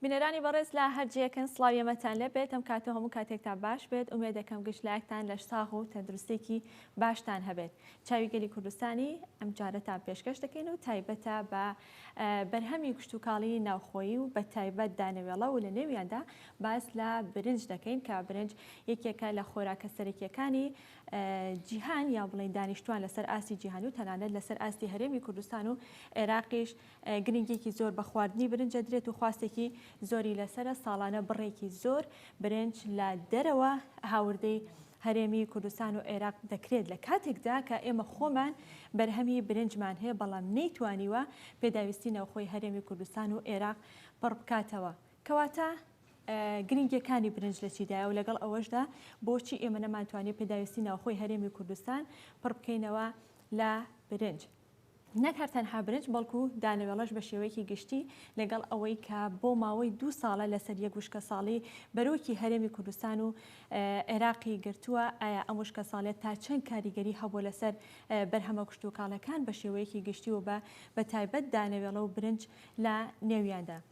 بینەرانی بەڕێز لە هەر جێکن سلاوی ئەمەتان لەبێت ئەم کاتە هەموو کاتێکتان باش بێت ئومێ دەکەم گشت لایەکتان لەش ساغ و تەندروستێکی باشتان هەبێت چاوی گەلی کوردستانی ئەم جارەتان پێشکەش دەکەین و تایبەتە بە بەرهەمی کشتوکاڵیی ناوخۆیی و بە تایبەت دانەوێڵە و لە نێویاندا باس لە برنج دەکەین کە برنج یەکێکە لە خۆراکە سەرەکییەکانی جیهان یان بڵێین دانیشتوان لەسەر ئاستی جیهانی و تەنانەت لەسەر ئاستی هەرێمی کوردستان و عێراقیش گرنگێکی زۆر بە خواردنی برنج دەدرێت و خواستێکی زۆری لەسەرە ساڵانە بڕێکی زۆر برنج لە دەرەوە هاوردەی هەرێمی کوردستان و عێراق دەکرێت لە کاتێکدا کە ئێمە خۆمان بەرهەمی برنجمان هەیە، بەڵام نەیتوانیوە پێداویستی ناوخۆی هەرێمی کوردستان و عێراق پڕ بکاتەوە. کەواتە گرنگیەکانی برنج لە چیدایە و لەگەڵ ئەوەشدا بۆچی ئێمە نەمانتوانیە پێداویستی ناوخۆی هەرێمی کوردستان پڕ بکەینەوە لە برنج؟ نەک هەر تەنها برنج بەڵکو دانەوێڵەش بە شێوەیەکی گشتی لەگەڵ ئەوەی کە بۆ ماوەی دوو ساڵە لەسەر یەک وشکەساڵی بەرۆکی هەرێمی کوردستان و عێراقی گرتووە، ئایا ئەم وشکەساڵیە تا چەند کاریگەری هەبووە لەسەر بەرهەمە کشتوکاڵەکان بە شێوەیەکی گشتی و بە بە تایبەت دانەوێڵە و برنج لە نێویاندا؟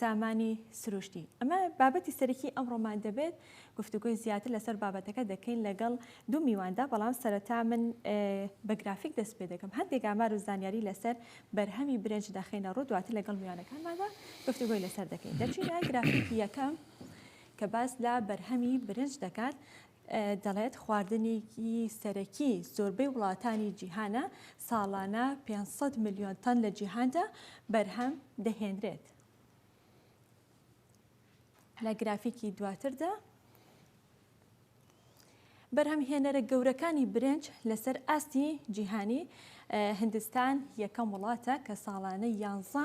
سامانی سروشتی، ئەمە بابەتی سەرەکی ئەمڕۆمان دەبێت، گفتوگۆی زیاتر لەسەر بابەتەکە دەکەین لەگەڵ دوو میواندا، بەڵام سەرەتا من بە گرافیک دەست پێ دەکەم، هەندێک ئامار و زانیاری لەسەر بەرهەمی برنج دەخەینە ڕوو، دواتر لەگەڵ میوانەکانماندا گفتوگۆی لەسەر دەکەین. دەچینە گرافیکی یەکەم کە باس لە بەرهەمی برنج دەکات، دەڵێت، خواردنێکی سەرەکی زۆربەی وڵاتانی جیهانە، ساڵانە پێنج سەد ملیۆن تەن لە جیهاندا بەرهەم دەهێنرێت. لە گرافیکی دواتردا بەرهەمهێنەرە گەورەکانی برنج لەسەر ئاستی جیهانی هندستان یەکەم وڵاتە کە ساڵانە یانزە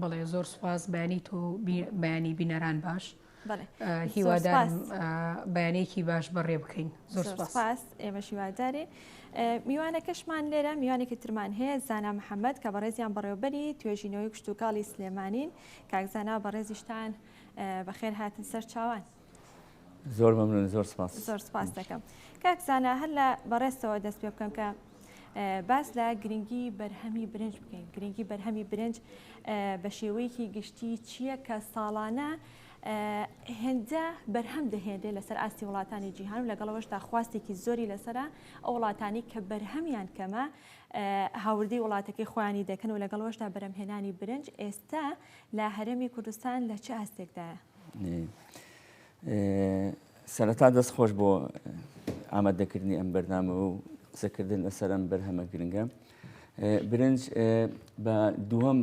بەڵێ زۆر سپاس بەیانی تۆ بەیانی بینەران باش هیوادار بەیانێکی باش بەڕێ بکەین زۆر سپاس ئێمە شیوادارێ میوانەکەشمان لێرە میوانێکی ترمان هەیە زانا محەممەد کە بەڕێزیان بەڕێوبەری توێژینەوەی کوشتتوکاڵی سلێمانین کاکزانا بەڕێزیشتان بەخێر هاتن سەر چاوان. زۆر مەمنون زۆر سپاس زۆر سپاس دەکەم کاک زانا هەر لە بەڕێستەوە دەست پێ بکەم کە باس لە گرنگی بەرهەمی برنج بکەین گرنگی بەرهەمی برنج بە شێوەیەکی گشتی چییە کە ساڵانە هێندە بەرهەم دەهێنێ لەسەر ئاستی وڵاتانی جیهان و لەگەڵەوەشدا خواستێکی زۆری لەسرە ئەو وڵاتانی کە بەرهەمیان کەمە هاوردەی وڵاتەکەی خۆیانی دەکەن و لەگەڵەوەشدا بەرەمهێنانی برنج ئێستا لە هەرێمی کوردستان لە چ ئاستێکدایە سەرەتا دەست خۆش بۆ ئامادەکردنی ئەم بەرنامە و قسەکردن لەسەر ئەم بەرهەمە گرنگە. برنج بە دووەم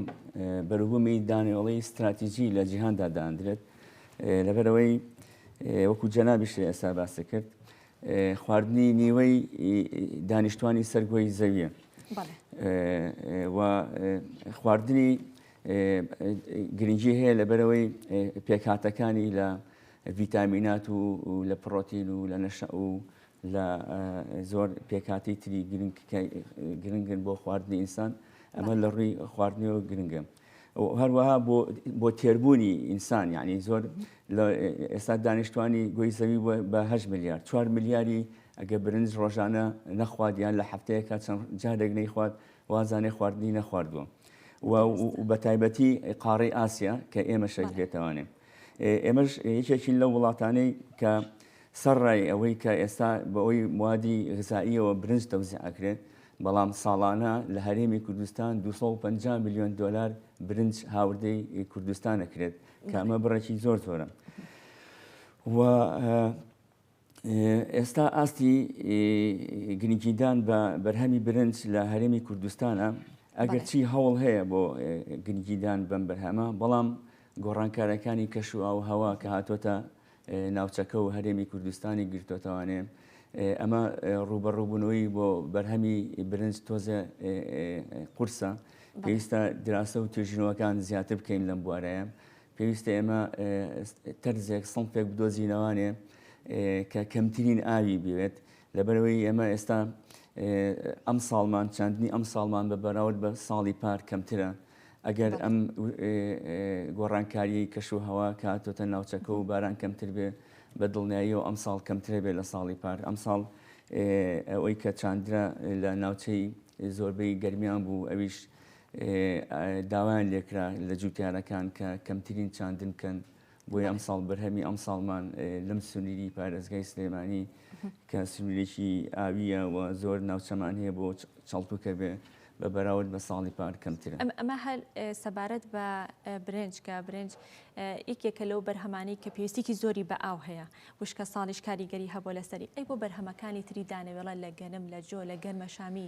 بەروبوومی دانیۆڵی استراتیژی لە جیهاندا داندرێت لەبەرەوەی وەکو جەنابیش ئێستا باسی کرد خواردنی نیوەی دانیشتوانی سەرگۆی زەویە و خواردنی گرنگی هەیە لەبەرەوەی پێکهاتەکانی لە ڤیتامینات و لە پڕۆتین و لە نەشە و لە زۆر پێکاتی تری گرنگن بۆ خواردنی ئینسان ئەمە لە ڕووی خواردنەوە گرنگە. هەروەها بۆ تێربوونی ئینسان یعنی زۆر ئێستا دانیشتوانی گۆی زەوی بە هە میلیارد چوار میلیاری ئەگە برنج ڕۆژانە نەخوادیان لە هەفتەیەکە چەند جارێک نەیخوات وازانێ خواردنی نەخواردووە و بەتایبەتی قاڕی ئاسیا کە ئێمە شەک بێتوانێ ئێمەش یەکێکین لە وڵاتانەی کە سەرڕای ئەوەی کە ئێستا بەەوەی موادی غزاییەوە برنج تەوزیعکرێت بەڵام ساڵانە لە هەرێمی کوردستان 250 میلیۆن دلار برنج هاوردەی کوردستانەکرێت کامە بڕێکی زۆر زۆرە و ئێستا ئاستی گرنگیدان بە بەرهەمی برنج لە هەرێمی کوردستانە ئەگەرچی هەوڵ هەیە بۆ گرنگیدان بەم بەرهەمە بەڵام گۆڕانکارەکانی کەش و ئاو هەوا کە هاتۆتە ناوچەکە و هەرێمی کوردستانی گرتۆتەوانێ ئەمە ڕوبەڕوبوونەوەی بۆ بەرهەمی برنج تۆزە قورسە پێویستە دراسە و توێژینەوەکان زیاتر بکەین لەم بوارەیە پێویستە ئێمە تەرزێک سڵفێک بدۆزینەوانێ کە کەمترین ئاوی بوێت لەبەرەوەی ئێمە ئێستا ئەم ساڵمان چاندنی ئەم ساڵمان بە بەراورد بە ساڵی پار کەمترە ئەگەر ئەم گۆڕانکاریی کەش و هەوا کاتۆتە ناوچەکە و باران کەمتر بێ بە دڵنیایی و ئەم ساڵ کەمترە بێ لە ساڵی پار ئەم ساڵ ئەوەی کە چاندرا لە ناوچەی زۆربەی گەرمیان بوو ئەویش داوایان لێکرا لە جووتیارەکان کە کەمترین چاندن بکەن، بۆیە ئەمساڵ بەرهەمی ئەمساڵمان لەم سنووری پارێزگای سلێمانی کە سنوورێکی ئاوییە و زۆر ناوچەمان هەیە بۆ چاڵکووکە بێ بە بەراورد بە ساڵی پار کەمترە. ئەمە هەر سەبارەت بە برنج کە برنج یەکێکە لەو بەرهەمانەی کە پێویستیکی زۆری بە ئاو هەیە، وشکە ساڵیش کاریگەری هەبووە لەسەری، ئەی بۆ بەرهەمەکانی تری دانەوێڵە لە گەنم، لە جۆ، لە گەنمەشامی،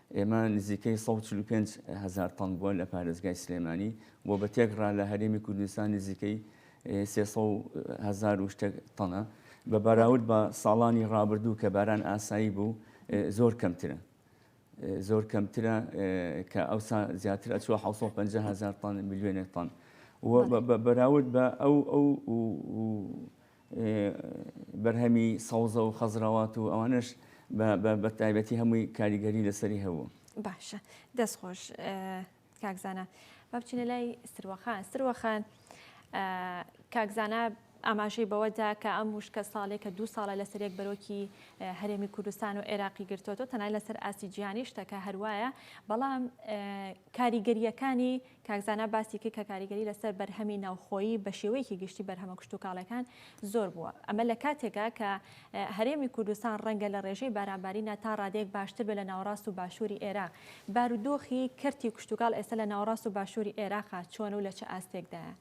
ئێمە نزیکەی سەد و چل و پێنج هەزار تەن بووە لە پارێزگای سلێمانی و بە تێکڕا لە هەرێمی کوردستان نزیکەی سێ سەد و هەزار و شتێک تەنە بە بەراورد بە ساڵانی ڕابردوو کە باران ئاسایی بوو زۆر کەمترە زۆر کەمترە کە ئەوسا زیاتر ئەچوە 650 هزار تان میلیۆنێک تان بەراورد بە ئەو ئەو بەرهەمی سەوزە و خەزراوات و ئەوانش بە تایبەتی هەمووی کاریگەری لەسەری هەبوو باشە دەست خۆش کاکزانە با بچینە لای سروەخان سروەخان کاکزانە ئاماژەی بەوەدا کە ئەم وشکە ساڵێکە دوو ساڵە لەسەر یەک بەرۆکی هەرێمی کوردستان و عێراقی گرتوۆتۆ تەنای لەسەر ئاستی جیهانی شتەکە هەروایە بەڵام کاریگەرییەکانی، کاک زانا باسی کرد کە کاریگەری لەسەر بەرهەمی ناوخۆیی بە شێوەیەکی گشتی بەرهەمە کشتوکاڵیەکان زۆر بووە، ئەمە لە کاتێکا کە هەرێمی کوردستان ڕەنگە لە ڕێژەی بارانبارینا تا ڕادەیەک باشتر بێت لە ناوەڕاست و باشووری ئێراق، بارودۆخی کەرتی کشتوکاڵ ئێستا لە ناوەڕاست و باشووری ئێراقا چۆنە و لە چ ئاستێکدایە؟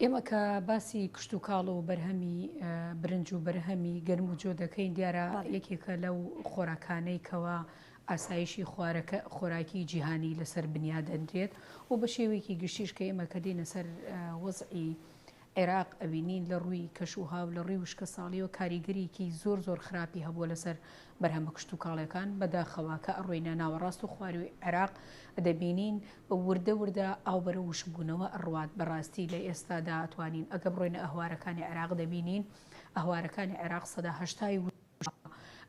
ئێمە کە باسی کشتوکاڵ و بەرهەمی برنج و بەرهەمی گەرم و جۆ دەکەین دیارە یەکێکە لەو خۆراکانەی کەوا ئاسایشی خوارەکە خۆراکی جیهانی لەسەر بنیا دەنرێت و بە شێوەیەکی گشتیش کە ئێمە کە دێنە سەر وەزعی عێراق ئەوینین لە ڕووی کەش و هاو لە ڕووی وشکە ساڵیەوە کاریگەریکی زۆر زۆر خراپی هەبووە لەسەر بەرهەمە کشتوکاڵیەکان بەداخەوە کە ئەڕۆینە ناوەڕاست و خوارووی عێراق دەبینین وردە وردە ئاو بەرەو وشکبوونەوە ئەڕوات بەڕاستی لە ئێستادا ئەتوانین ئەگە بڕۆینە ئەهوارەکانی عێراق دەبینین ئەهوارەکانی عێراق سەدا هەشتای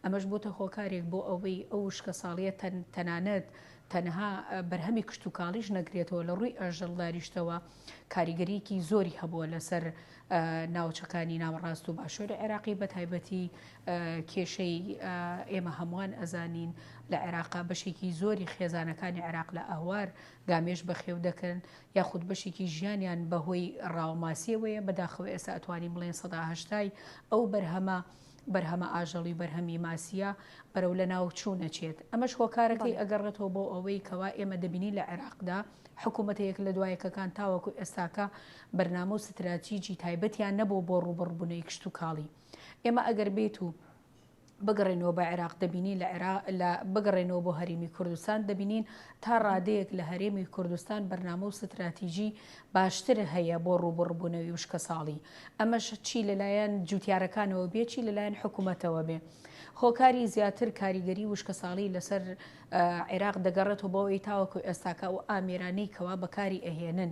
ئەمەش بۆتە هۆکارێک بۆ ئەوەی ئەو وشکە ساڵیە تەنانەت تەنها بەرهەمی کشتتوکاڵیش نەگرێتەوە لە ڕووی ئەژەڵداریشتەوە کاریگەریکی زۆری هەبووە لەسەر ناوچەکانی ناوەڕاست و باشوری عێراقی بەتایبەتی کێشەی ئێمە هەمووان ئەزانین لە عێراقا بەشێکی زۆری خێزانەکانی عێراق لە ئەهوار گامێش بەخێو دەکەن یاخود بەشێکی ژیانیان بەهۆی ڕاوماسیەوەیە بەداخەوە ئێستا ئەتوانی بڵێن سەداهشتای ئەو بەرهەمە بەرهەمە ئاژەڵی بەرهەمی ماسیە بەرەو لە ناو چوونەچێت ئەمەش هۆکارەکەی ئەگەڕێتەوە بۆ ئەوەی کەوا ئێمە دەبینی لە عێراقدا حکوومەتە یەک لە دوایەکەکان تاوەکو ئێستاکە بەرنامە و ستراتیجی تایبەتیان نەبوو بۆ ڕووبەڕووبونەوەی کشتوکاڵی ئێمە ئەگەر بێت و بگەڕێنەوە بە عێراق دەبینین لە عێرا لە بگەڕێنەوە بۆ هەرێمی کوردستان دەبینین تا ڕادەیەک لە هەرێمی کوردستان بەرنامە و ستراتیژی باشتر هەیە بۆ ڕوبڕبوونەوەی وشکە ساڵی ئەمەش چی لەلایەن جوتیارەکانەوە بێچی لەلایەن حکوومەتەوە بێ هۆکاری زیاتر کاریگەری وشکە ساڵی لەسەر عێراق دەگەڕێتەوە بۆ ئەوی تاوەکو ئێستاکە و ئامێرانەی کەوا بەکاری ئەهێنن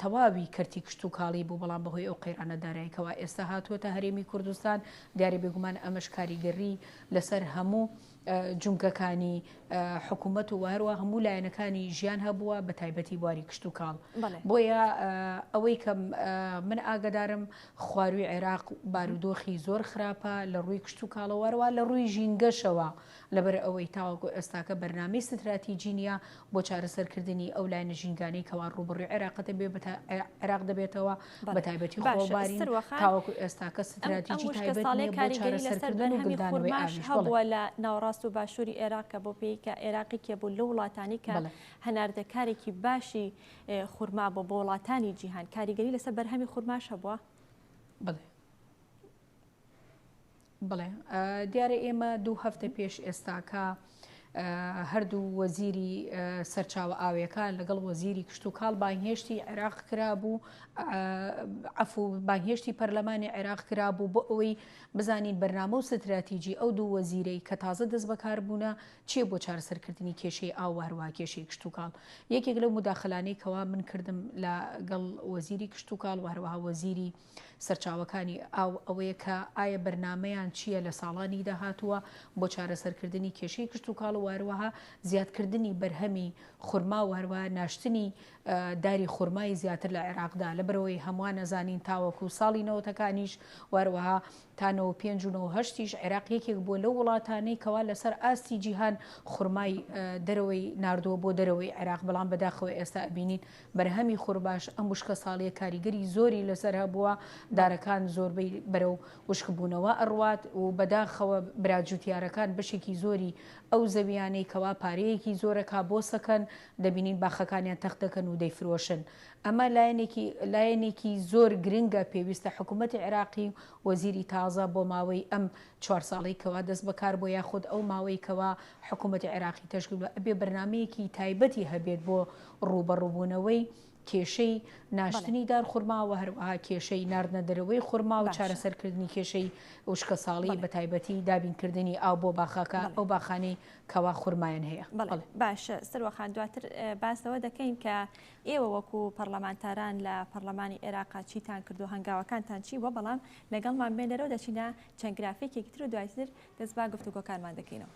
تەواوی کەرتی کشتوکاڵی بوو، بەڵام بەهۆی ئەو قەیرانە دارایی کەوا ئێستا هاتووەتە هەرێمی کوردستان، دیارە بێگومان ئەمەش کاریگەرری لەسەر هەموو جومگەکانی حکوومەت و وهروە هەموو لایەنەکانی ژیان هەبووە بە تایبەتی بواری کشتوکاڵ بۆیە ئەوەی کە من ئاگدارم خواروی عێراق بارودۆخی زۆر خراپە لە ڕووی کشتوکاڵەوەروە لە ڕووی ژینگەشەوە. لەبەر ئەوەی تاوەکو ئێستاکە بەرنامەی ستراتیجی نییە بۆ چارەسەرکردنی ئەو لایەنە ژینگانەی کەوا ڕووبەڕووی عێراق دەبێ بە عێراق دەبێتەوە بە تایبەتی خۆڵبارین تاوەکو ئێستاکە ستراتیجی تایبەت نییە بۆ چارەسەرکردن و گلدانەوەی ئاویش بەڵێ. هەبووە لە ناوەڕاست و باشووری عێراق کە بۆ پێی کە عێراق یەکێ بوو لەو وڵاتانەی کە هەناردەکارێکی باشی خورما بووە بۆ وڵاتانی جیهان کاریگەری لەسەر بەرهەمی خورماش هەبووە؟ بەڵێ. بەڵێ دیارە ئێمە دوو هەفتە پێش ئێستاکە هەردوو وەزیری سەرچاوە ئاوێکە لەگەڵ وەزیری کشت و کاڵ بانگهێشتی عێراق کرابوو عفو بانگهێشتی پەرلەمانی عێراق کرابوو بۆ ئەوەی بزانین بەرنامە و ستراتیجی ئەو دوو وەزیرەی کە تازە دەست بەکاربوونە چیە بۆ چارەسەرکردنی کێشەی ئاو هەروە کێشەی کشت و کاڵ یەکێک لەو مداخلانەی کەوا من کردم لە گەڵ وەزیری کشت و کاڵ وهروها وەزیری سەرچاوەکانی ئاو ئەوەیە کە ئایا بەرنامەیان چییە لە ساڵانی داهاتووە بۆ چارەسەرکردنی کێشەی کشتوکاڵ و هەروەها زیادکردنی بەرهەمی خورما و هەروەها ناشتنی داری خورمای زیاتر لە عێراقدا لەبەرەوەی هەمووان نەزانین تاوەکو ساڵی نەوەتەکانیش و هەروەها تا نۆ و پێنج و نۆ و هەشتیش عێراق یەکێک بووە لەو وڵاتانەی کەوا لەسەر ئاستی جیهان خورمای دەرەوەی ناردووە بۆ دەرەوەی عێراق، بەڵام بەداخەوە ئێستا ئەبینین بەرهەمی خورماش ئەم وشکە ساڵیە کاریگەری زۆری لەسەر هەبووە، دارەکان زۆربەی بەرەو وشکبوونەوە ئەڕوات و بەداخەوە برا جوتیارەکان بەشێکی زۆری ئەو زەویانەی کەوا پارەیەکی زۆرەکا بۆ سەکەن دەبینین باخەکانیان تەختدەکەن و دەیفرۆشن ئەمە لایەنێکی لایەنێکی زۆر گرنگە پێویستە حکوومەتی عێراقی و وەزیری تازە بۆ ماوەی ئەم چوار ساڵەی کەوا دەست بەکار بۆ یاخود ئەو ماوەی کەوا حکوومەتی عێراقی تەشکیل بە ئەبێ بەرنمەیەکی تایبەتی هەبێت بۆ ڕووبەڕووبوونەوەی کێشەی ناشتنی دار خورما و هەروەها کێشەی ناردنە دەرەوەی خورما و چارەسەرکردنی کێشەی وشکە ساڵی بە تایبەتی دابینکردنی ئاو بۆ باخەکە ئەو باخانەی کەوا خورمایان هەیە باشە سروەخان دواتر باس لەوە دەکەین کە ئێوە وەکو پەڕلەمانتاران لە پەڕلەمانی عێراق چیتان کردووە هەنگاوەکانتان چی بووە بەڵام لەگەڵمان بێن لەرەو دەچینە چەند گرافیکێکی تر و دوایتر دەست با گفتوگۆکانمان دەکەینەوە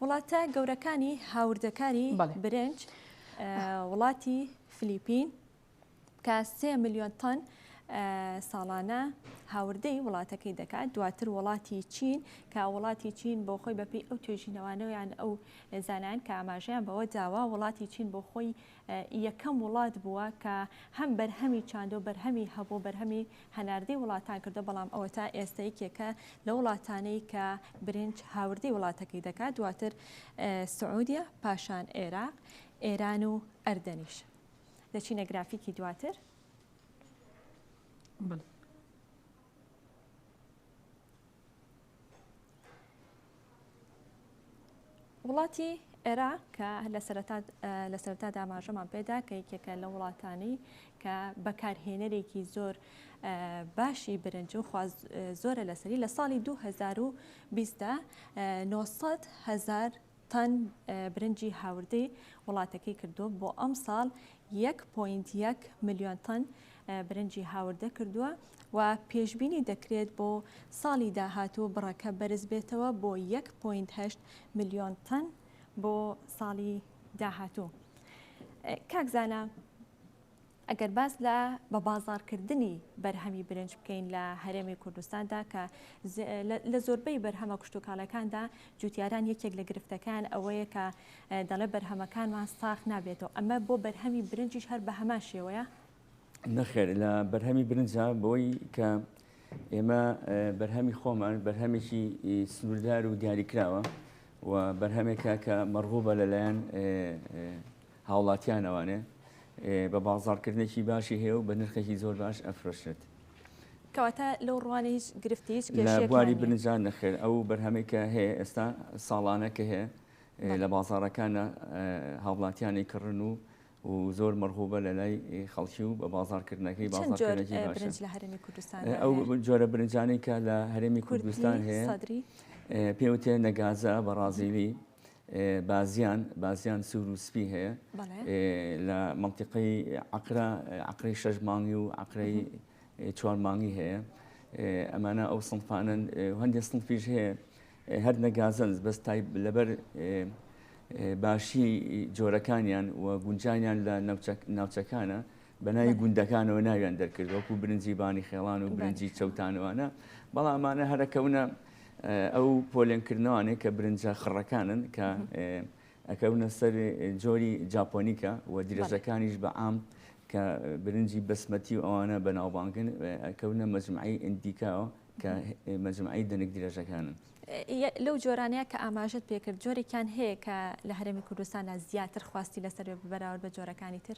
وڵاتە گەورەکانی هاوردەکاری برنج وڵاتی فلیپین کە سێ ملیۆن تۆن ساڵانە هاوردەی وڵاتەکەی دەکات دواتر وڵاتی چین کە وڵاتی چین بۆ خۆی بەپی ئەو توێژینەوانەوەیان ئەو زانان کە ئاماژەیان بەوە داوا وڵاتی چین بۆ خۆی یەکەم وڵات بووە کە هەم بەرهەمی چاندۆ بەرهەمی هەبوو بەرهەمی هەناردەی وڵاتان کردو بەڵام ئەوە تا ئێستا یەکێکە لە وڵاتانەی کە برنج هاوردەی وڵاتەکەی دەکات دواتر سعودیە پاشان عێراق ئێران و ئەردەنیش. دەچینە گرافیکی دواتر بڵ. وڵاتی ئێرا کە لە سەرتا داماژەمان پێدا کە یەکێکە لە وڵاتانی کە بەکارهێنەرێکی زۆر باشی برنج و خواز زۆرە لەسەری لە ساڵی 2020دا 900 هزار تەن برنجی هاوردەی وڵاتەکەی کردووە، بۆ ئەمساڵ یەک پۆینت یەک ملیۆن تەن برنجی هاوردە کردووە و پێشبینی دەکرێت بۆ ساڵی داهاتوو بڕەکە بەرزبێتەوە بۆ یەک پۆینت هەشت ملیۆن تەن بۆ ساڵی داهاتوو. کاک زانا ئەگەر باس لە بە بازاڕکردنی بەرهەمی برنج بکەین لە هەرێمی کوردستاندا کە لە زۆربەی بەرهەمە کشتوکاڵەکاندا جوتیاران یەکێک لە گرفتەکان ئەوەیە کە دەڵێ بەرهەمەکانمان ساخ نابێتەوە ئەمە بۆ بەرهەمی برنجیش هەر بە هەمان شێوەیە نەخێر لە بەرهەمی برنجە بۆی کە ئێمە بەرهەمی خۆمان بەرهەمێکی سنووردار و دیاریکراوە و بەرهەمێکە کە مەڕغوبە لەلایەن هاوڵاتیان ئەوانێ بە بازاڕکردنێکی باشی هەیە و بە نرخێکی زۆر باش ئەفرۆشرێت. کەواتە لەو ڕوانە هیچ گرفتی هیچ لە کێشەیەک بواری نییە. برنجان نەخێر ئەو بەرهەمەی کە هەیە ئێستا ساڵانە کە هەیە بەڵێ. لە بازاڕەکانە هاوڵاتیانی کڕن و و زۆر مەرغوبە لە لای خەڵکی و بە بازاڕکردنەکەی چەند جۆر بازاڕکردنێکی باشە. برنج لە هەرێمی کوردستان ئەو هەیە؟ ب- جۆرە برنجانەی کە لە هەرێمی کوردستان کوردی هەیە سەدری؟ ئێ، پێوتێ نەگازە بەڕازیلی، بازیان بازیان سوور و سپی هەیە لە منتیقی عقرا عقری شەش مانگی و عقری چوار مانگی هەیە ئەمانە ئەو سنفانن هەندێک سنفیش هەیە هەر نەگازنز بەس تای لەبەر باشی جۆرەکانیان و گونجانیان لە ناوچەکانە بە ناوی گوندەکانەوە ناویان دەرکرد وەکو برنجی بانی خێڵان و برنجی چەوتانوانە بەڵام ئەمانە هەرەکەونە ئەو پۆلێنکردنەوانێک کە برنجە خڕەکانن کە ئەکەونە سەر جۆری جاپۆنیکە و درێژەکانیش بە عام کە برنجی بەسمەتی و ئەوانە بەناوبانگن ئەکەونە مەجمعی ئەندیکاوە کە مەجمعی دەنک درێژەکانن. لەو جۆرانەیە کە ئاماژت پێکرد جۆرێکیان هەیە کە لە هەرێمی کوردستانە زیاتر خواستی لەسەر بەراورد بە جۆرەکانی تر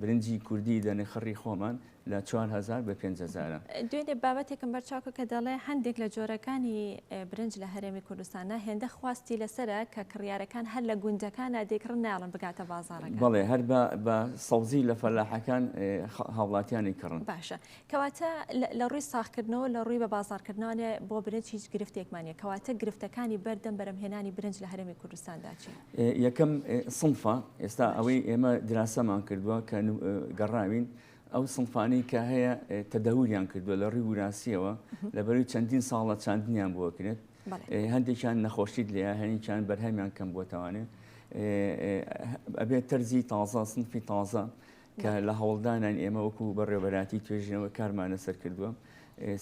برنجی کوردی لە نخڕی خۆمان لە چوار هەزار بە پێنج هەزارە. دوێنێ بابەتێکم بەرچاوکرد کە دەڵێ هەندێک لە جۆرەکانی برنج لە هەرێمی کوردستانە هێندە خواستی لەسەرە کە کڕیارەکان هەر لە گوندەکانا دەیکڕن نایەڵن بگاتە بازاڕەکان. بەڵێ هەر بە سەوزی لە فەلاحەکان هاوڵاتیانی کڕن. باشە کەواتە لە ڕووی ساغکردنەوە و لە ڕووی بەبازاڕکردنەوە بۆ برنج هیچ گرفتێکمان نییە، کەواتە گرفتەکانی بەردەم بەرهەمهێنانی برنج لە هەرێمی کوردستاندا چین؟ یەکەم سنفە، ئێستا ئەوەی ئێمە دراسەمان کردووە کە گەڕاوین، ئەو سنفانەی کە هەیە تەدەوریان کردووە لە ڕووی وراستییەوە، لەبەروی چەندین ساڵە چاندنیان بۆ کرێت، هەندێکیان نەخۆشیت لێیە، هەندێکیان بەرهەمیان کەم بووەتەوانێ، ئەبێت تەرزی تازە، سنفی تازە کە لە هەوڵدانان ئێمە وەکو بەڕێوەبەراتی توێژینەوە کارمان لەسەر کردووە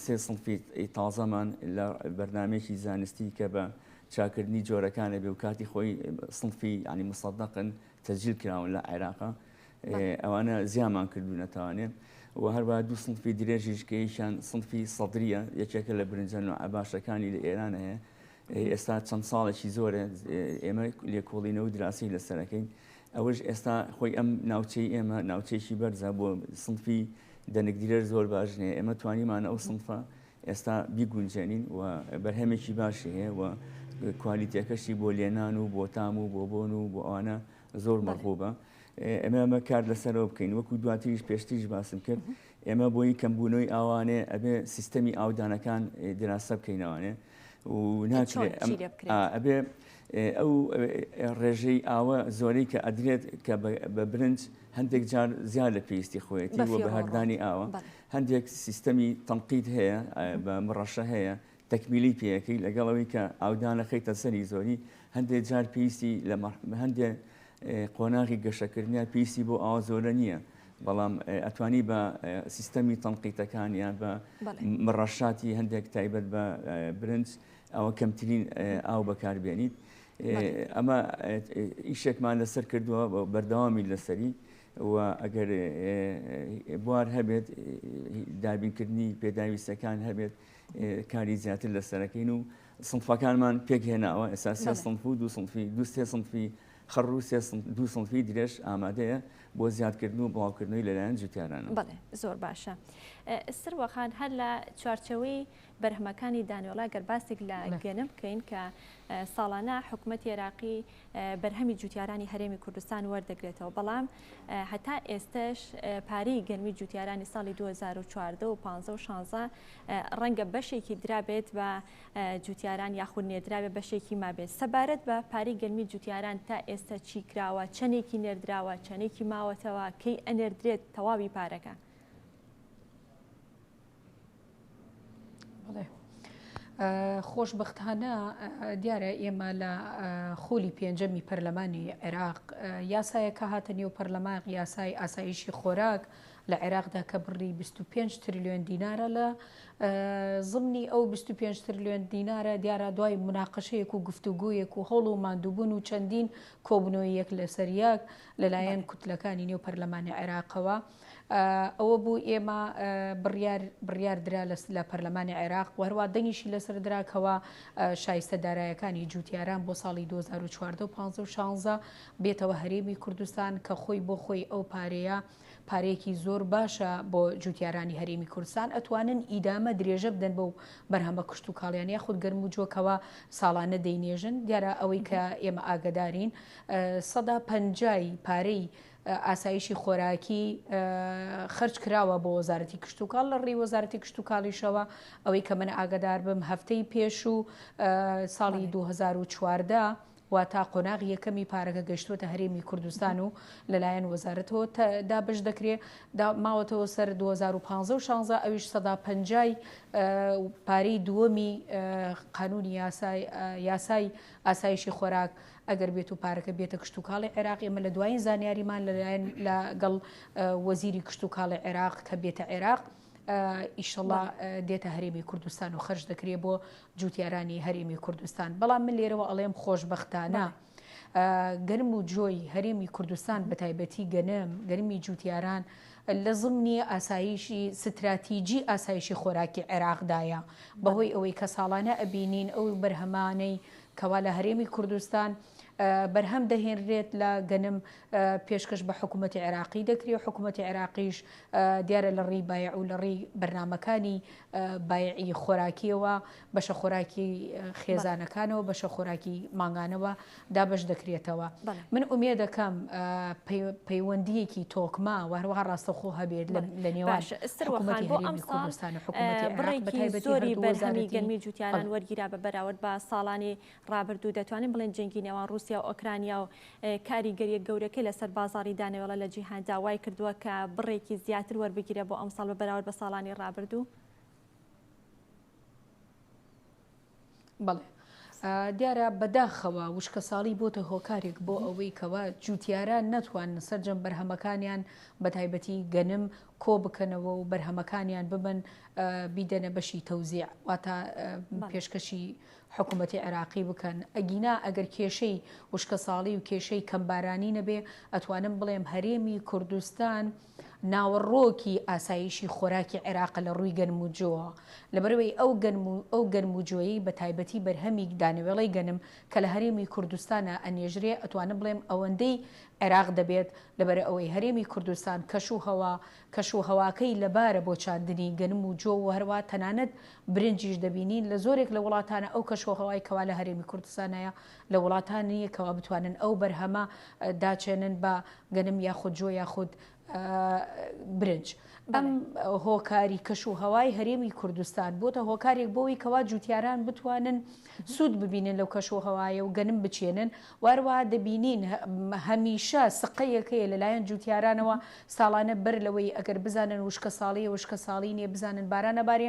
سێ سنفی تازەمان لە بەرنمێکی زانستی کە بە چاکردنی جۆرەکانە بێ و کاتی خۆی سنفی ینی مسەدەقن تەجیل کراون لە عێراقا ئەوانە زیامان کردو نەتوانێت و هەروە دوو سنفی درێژیش کە یشان سنفی سەدریە یەکێکە لە برنجە نوعە باشەکانی لە ئێران هەیە ئێستا چەند ساڵێکی زۆرە ئێمە لێکۆڵینە و دراسی لەسەرەکەین ئەوەش ئێستا خۆی ئەم ناوچەی ئێمە ناوچێکی بەرزە بۆ سنفی دەنگدرێر زۆر باشنێ ئێمە توانیمان ئەو سنفە ئێستا بیگونجێنین و بەرهەمێکی باشی هەیە و کوالیتەکەشی بۆ لێنان و بۆ تام و بۆ بۆن و بۆ ئەوانە زۆر مەغوبە ئەمە ئەمە کار لەسەرەوە بکەین وەکو دواتریش پێشتریش باسم کرد ئێمە بۆی کەم بونەوەی ئاوانێ ئەبێ سیستەمی ئاودانەکان دراسە بکەینەوانێ و ناکرێت ئەبێ ئەو ڕێژەی ئاوە زۆری کە ئەدرێت کە بە برنج هەندێک جار زیاد لە پێویستی خۆیەتی و بە هەردانی ئاوە هەندێک سیستەمی تەنقیت هەیە بە مڕەشە هەیە تەکمیلی پێ ئەکەی لەگەڵ ئەوەی کە ئاودان ئەخەیتە سەری زۆری هەندێک جار پێویستی لە هەندێک قۆناغی گەشەکردنیان پێویستی بۆ ئاوا زۆرە نییە بەڵام ئەتوانی بە سیستەمی تەنقیتەکان یان بە مڕەشاتی هەندێک تایبەت بە برنج ئەوە کەمترین ئاو بەکاربیێنیت ئەمە ئیشێکمان لەسەر کردووە بەردەوامی لەسەری و ئەگەر بوار هەبێت دابینکردنی پێداویستەکان هەبێت کاری زیاتر لەسەرەکەین و سنفەکانمان پێک هێناوە ئێستا سێ سنف و دو سنفی دو سێ سنفی خەڕ و دو سنفی درێژ ئامادەیە بۆ زیادکردن و بڵاوکردنەوەی لەلایەن جوتیاران بڵێ زۆر باشە سروەخان هەر لە چوارچەوەی بەرهەمەکانی دانیۆڵا گەرباسێک لە گەنە بکەین کە ساڵانە حکوومەت عێراقی بەرهەمی جوتیارانی هەرێمی کوردستان وەردەگرێتەوە، بەڵام هەتا ئێستەش پارەی گەرمی جوتیارانی ساڵی 2014 و 15 و 16 ڕەنگە بەشێکی درابێت بە جوتیاران یاخود نێدراوێت بەشێکی مابێت سەبارەت بە پارەی گەرمی جوتیاران تا ئێستا چی کراوە چەندێکی نێردراوە چەندێکی ماوەتەوە کەی ئەنێردرێت تەواوی پارەکە. خۆشبەختانە دیارە ئێمە لە خولی پێنجەمی پەرلەمانی عێراق یاسایە کە هاتە نێو پەرلەمان یاسای ئاسایشی خۆراک لە عێراقدا کە بڕی 25 تریلیۆن دینارە لە زمنی ئەو 25 تریلیۆن دینارە دیارە دوای مناقەشەیەک و گفتوگویەک و هەوڵ و مادووبوون و چەندین کۆبنەوەی یەک لەسەر یەک لەلایەن کوتلەکانی نێو پەرلەمانی عێراقەوە. ئەوە بوو ئێمە بڕیار بڕیار درا لە پەرلەمانی عێراق و هەروە دەنگیشی لەسەر درا کەوا شایستە دارایەکانی جووتیاران بۆ ساڵی 2014 و 1516 بێتەوە هەرێمی کوردستان کە خۆی بۆ خۆی ئەو پارەیە پارێکی زۆر باشە بۆ جوتیارانی هەرێمی کوردستان ئەتوانن ئیدامە درێژە بدەن بەو بەرهەمە کشت و کاڵیان یاخود گەرم و جۆکەوە ساڵانە دەینێژن دیارە ئەوەی کە ئێمە ئاگدارین سەدا پەنجایی پارەی ئاسایشی خۆراکی خەرج کراوە بۆ وەزارەتی کشتوکاڵ لە ڕێی وەزارەتی کشتوکاڵیشەوە ئەوەی کە من ئاگدار بم هەفتەی پێش و ساڵی 2014 وا تا قۆناغ یەکەمی پارەکە گەشتوەتە هەرێمی کوردستان و لەلایەن وەزارەتەوە دابش دەکرێت ماوەتەوە سەر 2015 16 ئەویش سەدا پەنجای پارەی دووەمی قانونی یاسای یاسای ئاسایشی خۆراک ئەگەر بێت و پارەکە بێتە کشتوکاڵی عێراق، ئێمە لە دوایین زانیاریمان لەلایەن لە گەڵ وەزیری کشتوکاڵی عێراق کە بێتە عێراق ئیشەڵا دێتە هەرێمی کوردستان و خەرج دەکرێت بۆ جوتیارانی هەرێمی کوردستان بەڵام من لێرەوە ئەڵێم خۆشببختانە. گەرم و جۆی هەرێمی کوردستان بە تایبەتی گەنم گەرمی جوتیاران لە زمنی ئاسایشی ستراتیجی ئاسایشی خۆراکی عێراقدایە بەهۆی ئەوەی کە ساڵانە ئەبینین ئەو بەرهەمانەی کەوا لە هەرێمی کوردستان بەرهەم دەهێنرێت لە گەنم پێشکەش بە حکوومەتی عێراقی دەکری و حکوومەتی عێراقیش دیارە لە ڕێی بایع و لە ڕێی بەرنمەکانی بایعی خۆراکیەوە بەشە خۆراکی خێزانەکانەوە بەشە خۆراکی مانگانەوە دابش دەکرێتەوە من ئومێ دەکەم پەیوەندیەکی تۆکما وهروها ڕاستەخۆ هەبێت لە نێوان زۆری بەرهەمی گەرمی جوتیاران وەرگیرا بە بەراورد بە ساڵانی ڕابردوو دەتوانین بڵێن جەنگی نێوان رووسیا و ئۆکرانیا و کاریگەریە گەورەکە لەسەر بازاری دانەوێڵە لە جیهان داوای کردووە کە بڕێکی زیاتر وەربگیرە بۆ ئەمساڵ بە بەراورد بە ساڵانی ڕابردوو. بەڵێ دیارە بەداخەوە وشکەساڵی بۆتە هۆکارێک بۆ ئەوەی کەەوە جووتیارە نەتوان سەررجەم بەرهەمەکانیان بە تایبەتی گەنم کۆ بکەنەوە و بەرهەمەکانیان ببن بیدەنە بەشی تەوزیع واتە پێشکەشی حکوومەتی عێراقی بکەن ئەگینا ئەگەر کێشەی وشکە ساڵی و کێشەی کەمبارانی نەبێ ئەتوانم بڵێم هەرێمی کوردستان و ناوەڕۆکی ئاسایشی خۆراکی عێراق لە ڕووی گەنم و جۆوە، لەبەرئەوەی ئەو گەنم و ئەو گەنم و جۆیەی بە تایبەتی بەرهەمی دانەوێڵەی گەنم کە لە هەرێمی کوردستانا ئەنێژرێ ئەتوانم بڵێم ئەوەندەی عێراق دەبێت لەبەرئەوەی هەرێمی کوردستان کەش و هەوا کەش و هەواکەی لەبارە بۆ چاندنی گەنم و جۆ و هەروا تەنانەت برنجیش دەبینین لە زۆرێک لە وڵاتانا ئەو کەش و هەوای کەوا لە هەرێمی کوردستانایە لە وڵاتان نییە کەوا بتوانن ئەو بەرهەمە داچێنن بە گەنم یاخود جۆ یاخود برنج ئەم هۆکاری کەش و هەوای هەرێمی کوردستان بۆتە هۆکارێک بۆی کەوا جوتیاران بتوانن سوود ببینن لەو کەش و هەوایە و گەنم بچێنن واروا دەبینین هەمیشە سقەیەکەیە لەلایەن جوتیارانەوە ساڵانە بەر لەوەی ئەگەر بزانن وشکە ساڵی وشکە ساڵی نیە بزانن بارانە بارێ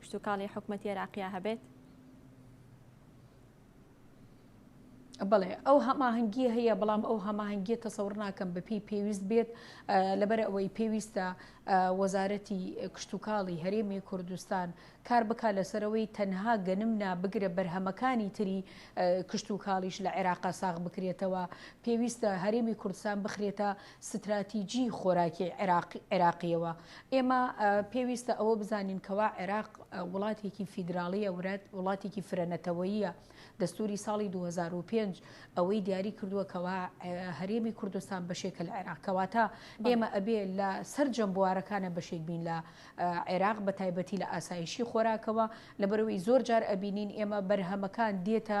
کشتوکاڵی حکومەتی عێراقیا هەبێت؟ بەڵێ ئەو هەماهەنگیە هەیە بەڵام ئەو هەماهەنگیە تەسەور ناکەم بەپی پێویست بێت لەبەر ئەوەی پێویستە وەزارەتی کشتتوکاڵی هەرێمی کوردستان کار بک لەسەرەوەی تەنها گەنم نابگرە بەرهەمەکانی تری کشتتوکاڵیش لە عێراقا ساغ بکرێتەوە پێویستە هەرێمی کوردستان بخرێتە ستراتیجی خۆراکی عێراقییەوە، ئێمە پێویستە ئەوە بزانین کەوا عێراق وڵاتێکی فیدراڵییە ورەت وڵاتێکی فرە نەتەوەییە دەستوری ساڵی 2005 ئەوەی دیاری کردووە کەوا هەرێمی کوردستان بەشێکە لە عێراق کەواتە ئێمە ئەبێ لە سەررجەم بوارەکانە بەشێک بین لە عێراق بە تایبەتی لە ئاسایشی خۆراکەوە لە بەرەوەی زۆر جار ئەبینین ئێمە بەرهەمەکان دێتە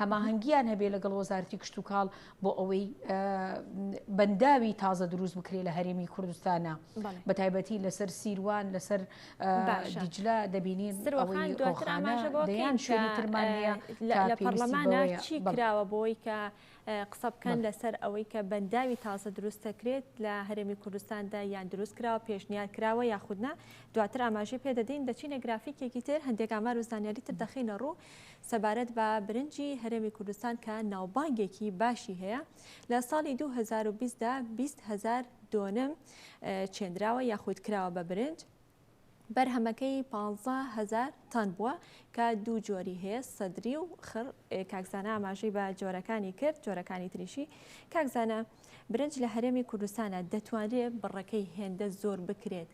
هەماهەنگییان هەبێ لەگەڵ وەزارەتی کشتوکاڵ بۆ ئەوەی بەنداوی تازە دروست بکرێ لە هەرێمی کوردستانە بە تایبەتی لەسەر سیروان لەسەر دیجلە دەبینین دەیان شوێنترمانەیە لە پەرلەمانە چی کراوە بۆی کە قسە بکەن لەسەر ئەوەی کە بەنداوی تازە دروست دەکرێت لە هەرێمی کوردستاندا یان دروست کراوە پێشنیار کراوە یاخودنا دواتر ئاماژی پێدەدەین دەچینە گرافیکێکی تر هەندێک ئامار و زانیاری تر دەخینە ڕوو سەبارەت بە برنجی هەرێمی کوردستان کە ناوبانگێکی باشی هەیە، لە ساڵی دوو هەزار و بیست دا بیست هەزار دۆنم چێندراوە یاخود کراوە بە برنج، بەرهەمەکەی پانزە هەزار تەن بووە کە دوو جۆری هەیە سەدری و خڕ کاک زانا ئاماژەی بە جۆرەکانی کرد جۆرەکانی تریشی کاک زانا برنج لە هەرێمی کوردستانە دەتوانرێت بڕەکەی هێندە زۆر بکرێت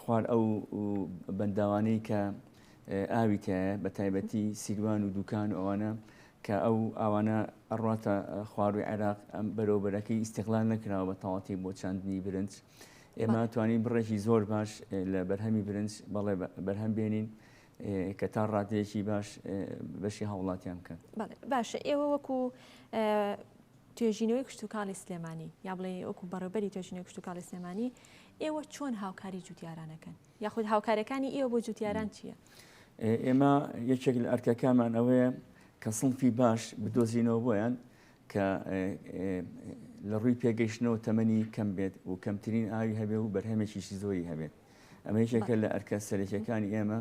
خوار ئەو بەنداوانەی کە ئاوی تایە بە تایبەتی سیروان و دوکان و ئەوانە کە ئەو ئاوانە ئەڕاتە خواروی عێراق ئەم بەرەوبەرەکەی ئیسیغلان نەکراوە بە تەواتی بۆ چاندنی برنج ئێمە توانین بڕێکی زۆر باش لە بەرهەمی برنج بەڵێ بەرهەم بێنین کە تا ڕادەیەکی باش بەشی هاوڵاتیان بکەن باشە ئێوە وەکو توێژینەوەی کشتوکاڵی سلێمانی، یا بڵێ وەکو بەڕێوبەری توێژینەوەی کشتوکاڵی سلێمانی، ئێوە چۆن هاوکاری جوتیاران ئەکەن؟ یاخود هاوکاریەکانی ئێوە بۆ جوتیاران چییە؟ ئێمە یەکێک لە ئەرکەکانمان ئەوەیە کە سنفی باش بدۆزینەوە بۆیان کە لە ڕووی پێگەیشتنەوە تەمەنی کەم بێت و کەمترین ئاوی هەبێ و بەرهەمێکیشی زۆری هەبێت ئەمە یەکێکە لە ئەرکە سەرەکیەکانی ئێمە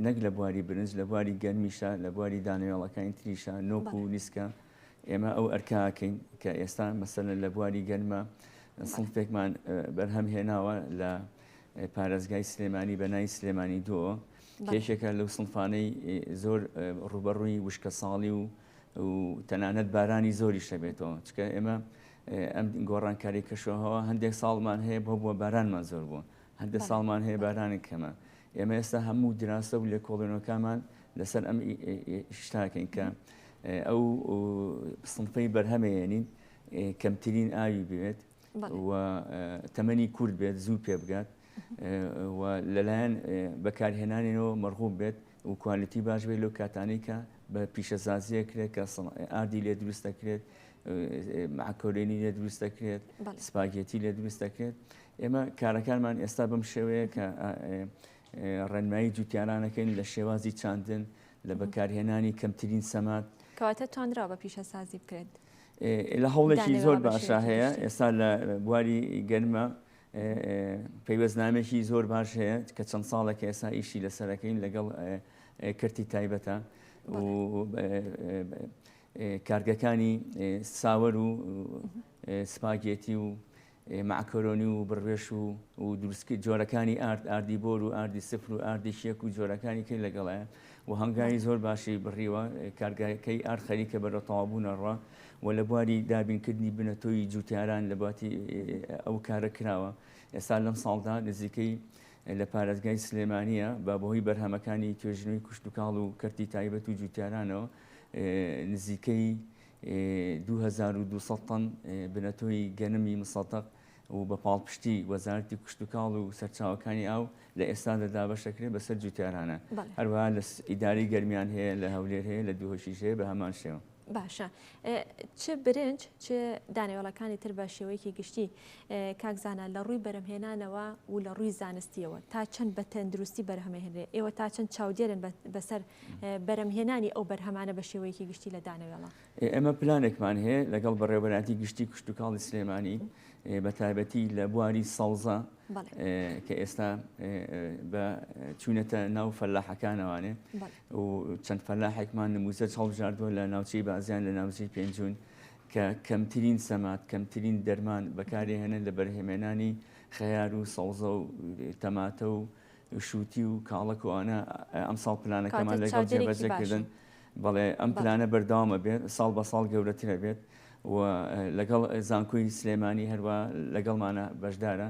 نەک لە بواری برنج لە بواری گەرمیشە لە بواری دانەوێڵەکانی تریشە نۆک و نیسکە ئێمە ئەو ئەرکە ئەکەین کە ئێستا مەسەلەن لە بواری گەرما سنفێکمان بەرهەم هێناوە لە پارێزگای سلێمانی بەنای سلێمانی دۆ کێشێکە لەو سنفانەی زۆر ڕوبەڕووی وشکە ساڵی و تەنانەت بارانی زۆری شەبێتەوە چکە ئێمە ئەم گۆڕانکاری کەشەوەەوە هەندێک ساڵمان هەیە بۆ بووە بارانمان زۆر بووە هەر دە ساڵمان هەیە بارانێک کەمە. ئێمە ئێستا هەموو دراسە و لێکۆڵێنەوەکانمان لەسەر ئەم شتاکەین کە ئەو سنفەی بەرهەمێنین کەمترین ئاوی بێت و تەمەنی کورد بێت زوو پێ بگات و لەلایەن بەکارهێنانەوە مەرغوب بێت و کوالیتی باش بێت لەو کاتانەی کە بە پیشەسازیە کرێت کە ئاردی لێ دروست دەکرێت معکۆلێنی لێ دروست دەکرێت سپاگێتی لێ دروست دەکرێت ئێمە کارەکانمان ئێستا بەم شێوەیە کە ڕێنمایی جوتیارانەکەین لە شێوازی چاندن لە بەکارهێنانی کەمترین سەمات کەواتە توانرا بە پیشەسازی بکرێت لە هەوڵێکی زۆر باشە هەیە ئێستا لە بواری گەرمە پەیوەستنامەیەکی زۆر باش هەیە کە چەند ساڵێکە ئێستا ئیشی لەسەرەکەین لەگەڵ کەرتی تایبەتە و کارگەکانی ساوەر و سپاگێتی و معکۆرۆنی و بڕێش و و دروستکی جۆرەکانی ئارد ئاردی بۆر و ئاردی سفر و ئاردی شێک و جۆرەکانی کرد لەگەڵە و هەنگاوی زۆر باشی بڕیوە، کارگەکەی ئارد خەریکە بەرەو تەواوبوونەڕا و لە بواری دابینکردنی بنەتۆی جووتیاران لە باتی ئەو کارە کراوە، ئێستا لەم ساڵدا نزیکەی لە پارێزگای سلێمانییە بە بەهۆی بەرهەمەکانی توێژینەوەی کشتوکاڵ و کەرتی تایبەت و جووتیارانەوە نزیکەی دوو هەزار و دوو سەد تەن بنەتۆی گەنمی مسەتەق و بە پاڵپشتی وەزارەتی کشتوکاڵ و سەرچاوەکانی ئاو لە ئێستادا دابەش دەکرێت بەسەر جووتیارانە. هەروەها لە ئیدارەی گەرمیان هەیە، لە هەولێر هەیە، لە دوهۆشیش هەیە بە هەمان شێوە. باشە چ برنج چ دانەوێڵەکانی تر بە شێوەیەکی گشتی کاک زانا لە ڕووی بەرەمهێنانەوە و لە ڕووی زانستیەوە تا چەند بە تەندروستی بەرهەمەهێنرێ ئێوە تا چەند چاودێرن بەسەر بەرەمهێنانی ئەو بەرهەمانە بە شێوەیەکی گشتی لە دانەوێڵە ئێمە پلانێکمان هەیە لەگەڵ بەڕێوەبەرایەتی گشتی کشتوکاڵی سلێمانی بە تایبەتی لە بواری سەوزە کە ئێستا بە چوونەتە ناو فەلاحەکانەوانێ و چەند فەلاحێکمان نموزە چاڵژاردووە لە ناوچەی بازیان لە ناوچەی پێنجون کە کەمترین سەمات کەمترین دەرمان بەکارێهێنن لە بەرهێمێنانی خەیار و سەوزە و تەماتە و شووتی و کاڵەک و ئەوانە ئەمساڵ پلانەکەمان لەگەڵ جێبەجێ کردن بەڵێ ئەم پلانە بەردەوام ئەبێت ساڵ بە ساڵ گەورەتر ئەبێت و لەگەڵ زانکۆی سلێمانی هەروە لەگەڵمانە بەشدارە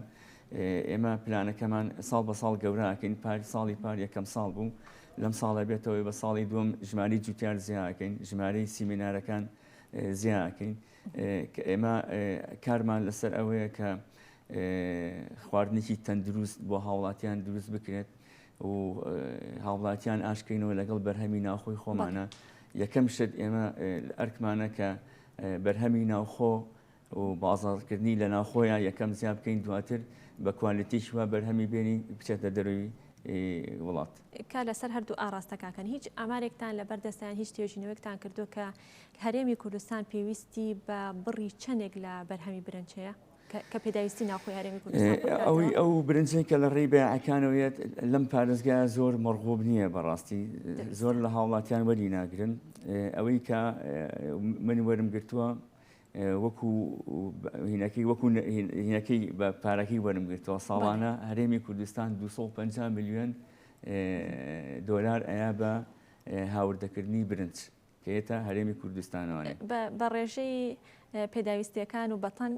ئێمە پلانەکەمان ساڵ بە ساڵ گەوراکەین پار ساڵی پار یەکەم ساڵ بوو لەم ساڵە بێتەوەی بە ساڵی دوم ژماری جوتیار زیاکەین ژمارەی سیمینارەکان زیاکەین کە ئێمە کارمان لەسەر ئەوەیە کە خواردنێکی تەندروست بۆ هاوڵاتیان دروست بکرێت و هاوڵاتیان ئاشکەینەوە لەگەڵ بەرهەمی ناوخۆی خۆمانە یەکەم شت ئێمە ئەرکمانە کە بەرهەمی ناوخۆ و بازاڕکردنی لە ناوخۆیان یەکەم زیاب بکەین دواتر بە کوالتیش وە بەرهەمی بێنین بچێتە دەروی وڵات کا لەسەر هەردوو ئاراستەکەکەن هیچ ئامارێکتان لە بەردەستیان هیچ توێژینەوەێکتان کردو کە هەرێمی کوردستان پێویستی بە بڕی چەندێک لە بەرهەمی برنجەیە؟ کە پێداویستی ناوخۆی هەرێمی کوردستان ئەوی ئەو برنجەی کە لە ڕێی بەیعەکانەوەیەت لەم پارێزگا زۆر مەڕغوب نییە بەڕاستی زۆر لە هاوڵاتیان وەری ناگرن ئەوەی کە من وەرم گرتووە وەکو هینەکەی وەکو هینەکەی بە پارەکەی وەرم گرتووە ساڵانە هەرێمی کوردستان 250 میلیۆن دۆلار ئەیا بە هاوردەکردنی برنج کە ئێتا هەرێمی کوردستانەوانێ. بە بە ڕێژەی پێداویستییەکان و بە تەن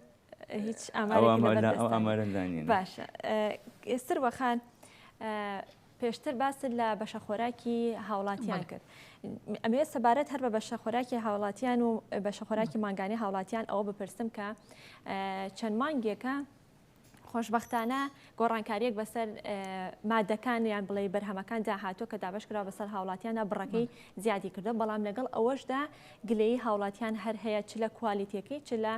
هیچ ئامارێکی لەبەر دەستدا نیە. ئەو ئامارە لەلا نیە. باشە. سروە خان، پێشتر باست لە بەشە خۆراکی هاوڵاتیان کرد. ئەمەوێ سەبارەت هەر بە بەشە خۆراکی هاوڵاتیان و بەشە خۆراکی مانگانەی هاوڵاتیان ئەوە بپرسم کە چەند مانگێکە، خۆشبەختانە گۆڕانکارییەک بەسەر مادەکان یان بڵێ بەرهەمەکاندا هاتووە کە دابشکرا بەسەر هاوڵاتیانە بڕەکەی زیادی کردو بەڵام لەگەڵ ئەوەشدا گلەی هاوڵاتیان هەر هەیە چ لە کوالیتەکەی چ لە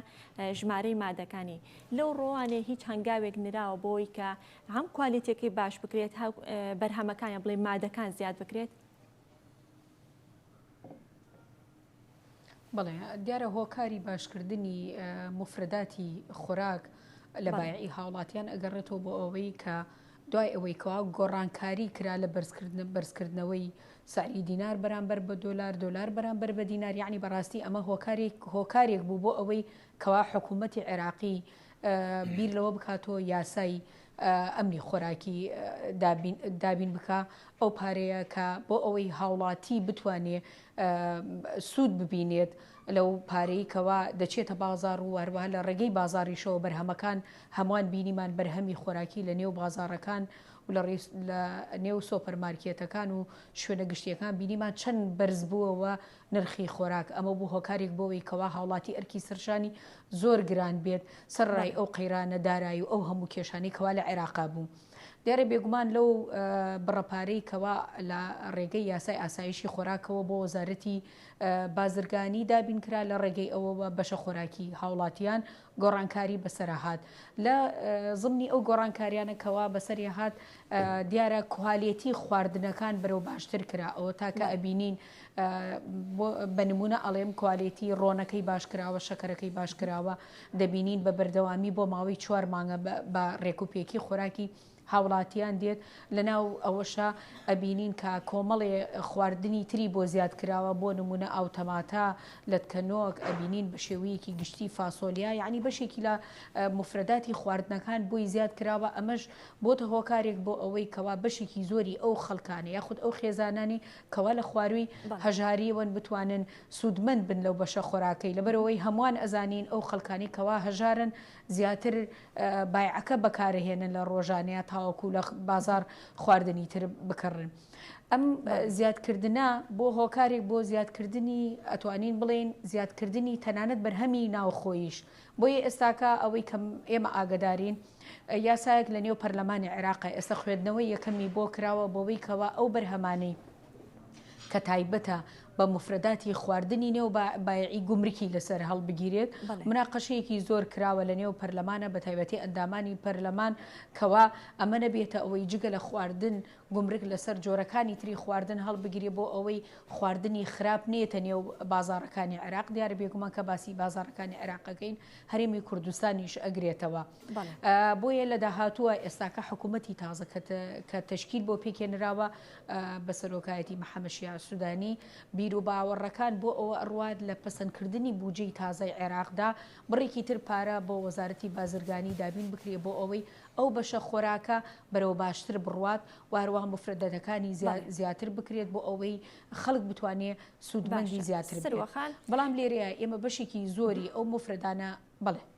ژمارەی مادەکانی لەو ڕۆوانێ هیچ هەنگاوێک نراوە بۆی کە هەم کوالیتەکەی باش بکرێت بەرهەمەکانیان بڵێ مادەکان زیاد بکرێت بەڵێ دیارە هۆکاری باشکردنی مفرداتی خۆراک لە بایعی هاوڵاتیان ئەگەڕێتەوە بۆ ئەوەی کە دوای ئەوەی کەوا گۆڕانکاری کرا لە بەرزکردن بەرزکردنەوەی سعری دینار بەرامبەر بە دۆلار دۆلار بەرامبەر بە دینار یعنی بەڕاستی ئەمە هۆکارێک هۆکارێک بوو بۆ ئەوەی کەوا حکوومەتتی عێراقی بیر لەوە بکاتەوە یاسایی ئەمنی خۆراکی دابین بکا ئەو پارەیە کە بۆ ئەوەی هاوڵاتی بتوانێ سوود ببینێت لەو پارەی کەوا دەچێتە بازار و هەروە لە ڕێگەی بازاریشەوە بەرهەمەکان هەمووان بینیمان بەرهەمی خۆراکی لە نێو بازارەکان و لە ڕیس لە نێو سۆپەرمارکێتەکان و شوێنە گشتیەکان بینیمان چەند بەرز بووەوە نرخی خۆراک، ئەمە بوو هۆکاریک بۆوەی کەوا هاوڵاتی ئەرکی سەرشانی زۆر گران بێت سەرڕای ئەو قەیرانە دارای و ئەو هەموو کێشانەی کەوا لە عێراقا بوو دیارە بێگومان لەو بڕە پارەی کەوا لە ڕێگەی یاسای ئاسایشی خۆراکەوە بۆ وەزارەتی بازرگانی دابین کرا لە ڕێگەی ئەوەوە بەشە خۆراکی هاوڵاتیان گۆڕانکاری بەسەرا هات لە زمنی ئەو گۆڕانکاریانە کەوا بەسەریا هات دیارە کوالێتی خواردنەکان بەرەو باشتر کرا ئەوە تاکە ئەبینین بە نمونە ئەڵێم کوالێتی ڕۆنەکەی باشکراوە شەکەرەکەی باشکراوە دەبینین بە بەردەوامی بۆ ماوەی چوار مانگە بە ڕێکوپێکی خۆراکی هاوڵاتیان دێت لەناو ئەوەشا ئەبینین کە کۆمەڵێ خواردنی تری بۆ زیاد کراوە بۆ نمونە ئاو تەماتە لەتکەنۆک ئەبینین بە شێوەیەکی گشتی فاسۆلیا یعنی بەشێکی لە مفرەداتی خواردنەکان بۆی زیاد کراوە ئەمەش بۆتە هۆکارێک بۆ ئەوەی کەوا بەشێکی زۆری ئەو خەڵکانە یاخود ئەو خێزانانی کەوا لە خواروی هەژاریەوەن بتوانن سوودمەند بن لەو بەشە خۆراکەی لەبەرەوەی هەمووان ئەزانین ئەو خەڵکانی کەوا هەژارن زیاتر بایعەکە بەکارهێنن لە ڕۆژانە تاوەکو لە بازار خواردنی تر بکڕن ئەم زیادکردە بۆ هۆکارێک بۆ زیادکردنی ئەتوانین بڵین زیادکردنی تەنانەت بەرهەمی ناوخۆیش بۆیە ئێستاکە ئەوەی کەم ئێمە ئاگدارین یاسایەک لە نێو پەرلەمانی عێراق ئێستا خوێندنەوەی یەکەمی بۆ کراوە بۆەوەی کەەوە ئەو بەرهەمانەی کە تایبەتە بە مفرەداتی خواردنی نێو بایعی گومرکی لەسەر هەڵبگیرێت مناقەشەیەکی زۆر کراوە لە نێو پەرلەمانە بە تایبەتی ئەندامانی پەرلەمان کەوا ئەمە نەبێتە ئەوەی جگە لە خواردن گومرک لەسەر جۆرەکانی تری خواردن هەڵبگیری بۆ ئەوەی خواردنی خراپ نێتە نێو بازارەکانی عێراق دیار بێگومان کە باسی بازارەکانی عێراقەکەین هەرێمی کوردستانیش ئەگرێتەوە بۆیە لە داهاتووە ئێستاکە حکوومەتتی تازە کە تشکیل بۆ پێکێنراوە بە سەرۆکایەتی محەمەد شیاع سودانی، بیروباوەڕەکان بۆ ئەوە ئەڕوات لە پەسەندکردنی بوجەی تازەی عێراقدا، بڕێکی تر پارە بۆ وەزارەتی بازرگانی دابین بکرێ بۆ ئەوەی ئەو بەشە خۆراکە بەرەو باشتر بڕوات و هەروەها مفردەتەکانی زیاتر بکرێت بۆ ئەوەی خەڵک بتوانێ سودمەندی زیاتر بێت. بەڵام لێرەیە ئێمە بەشێکی زۆری ئەو مفردانە بەڵێ.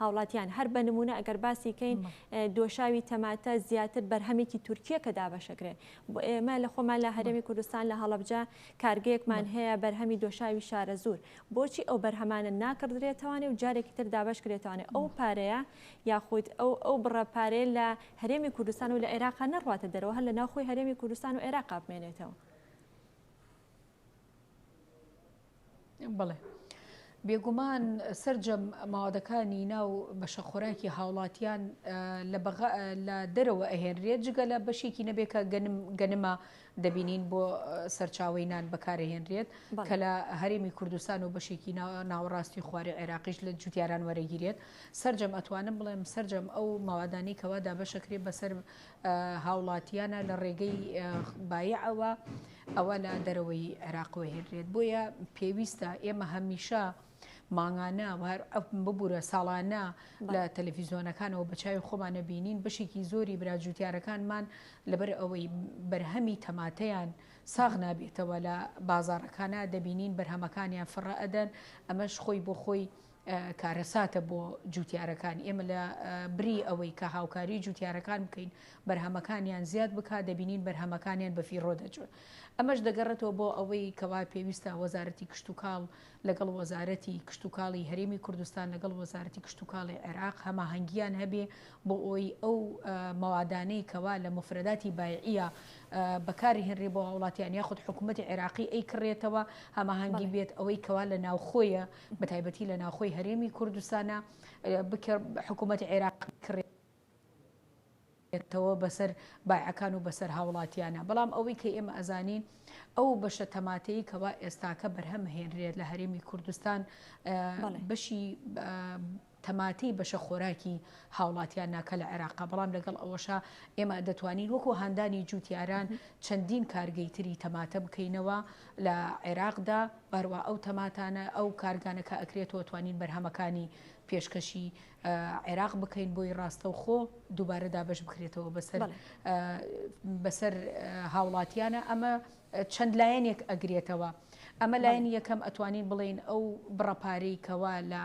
هاوڵاتیان، هەر بە نموونە ئەگەر باسی کەین دۆشاوی تەماتە زیاتر بەرهەمێکی تورکییە کە دابەشەکرێ. ئێمە لە خۆمان لە هەرێمی کوردستان لە هەڵەبجە کارگەیەکمان هەیە بەرهەمی دۆشاوی شارەزوور. بۆچی ئەو بەرهەمانە ناکڕدرێتەوانێ و جارێکی تر دابەش کرێتەوانێ ئەو پارەیە یاخود ئەو ئەو بڕە پارەیە لە هەرێمی کوردستان و لە عێراقا نەڕواتە دەرەوە هەر لە ناوخۆی هەرێمی کوردستان و عێراقا بمێنێتەوە؟ بەڵێ بێگومان سرجەم ماوەدەکانی ناو بەشە خۆراکی هاوڵاتیان لە دەرەوە ئەهێنرێت جگە لە بەشێکی نەبێت کە گەنمە دەبینین بۆ سەرچاوی نان بەکارهێنرێت کە لە هەرێمی کوردستان و بەشێکی ناوەڕاستی خوارێ عێراقیش لە جوتیاران وەرەگیرێت سرجەم ئەتوانم بڵێم سرجەم ئەو ماوادانی کەوا دابەشەکرێت بەسەر هاوڵاتیانە لە ڕێگەی بایعەوە ئەوە لە دەرەوەی عێراق وەهێنرێت بۆیە پێویستە ئێمە هەمیشە مانگانە ببوورە ساڵانە لە تەلەفیزیۆنەکانەوە بەچوی خۆمانە بینین بەشێکی زۆری براجووتیارەکانمان لەبەر ئەوەی بەرهەمی تەماتەیان ساغ نابێتەوە لە بازارەکانە دەبینین بەرهەمەکانیان فڕە ئەدەن ئەمەش خۆی بۆ خۆی کارەساتە بۆ جووتیارەکان، ئێمە لە بری ئەوەی کە هاوکاری جووتیارەکان بکەین بەرهەمەکانیان زیاد بکات دەبینین بەرهەمەکانیان بەفیڕۆ دەچن، ئەمەش دەگەڕێتەوە بۆ ئەوەی کەوا پێویستە وەزارەتی کشتوکاڵ لەگەڵ وەزارەتی کشتوکاڵی هەرێمی کوردستان لەگەڵ وەزارەتی کشتوکاڵی عێراق هەماهەنگییان هەبێ بۆ ئەوەی ئەو مەوادانەی کەوا لە موفرەداتی بایعییە بەکارهێنرێ بۆ هاوڵاتیان یاخود حکوومەتی عێراقی ئەیکڕێتەوە هەماهەنگی بێت ئەوەی کەوا لە ناوخۆیە بەتایبەتی لە ناوخۆی هەرێمی کوردستانە حکوومەتی عێراق کڕێ تەوە بەسەر بایعەکان و بەسەر هاوڵاتیانە بەڵام ئەوەی کە ئێمە ئەزانین ئەو بەشە تەماتەی کەوا ئێستاکە بەرهەم هێنرێت لە هەرێمی کوردستان بەشی تەماتەی بەشە خۆراکی هاوڵاتیان ناکە لە عێراقا، بەڵام لەگەڵ ئەوەشا ئێمە دەتوانین وەکو هاندانی جووتیاران چەندین کارگەی تری تەماتە بکەینەوە لە عێراقدا و هەروا ئەو تەماتانە ئەو کارگانە کە ئەکرێتەوە توانین بەرهەمەکانی پێشکەشی عێراق بکەین بۆی ڕاستەوخۆ دووبارە دابەش بکرێتەوە بەسەر بەسەر هاوڵاتیانە ئەمە چەند لایەنێک ئەگرێتەوە ئەمە بەڵێ لایەنی یەکەم ئەتوانین بڵێین ئەو بڕە پارەی کەوا لە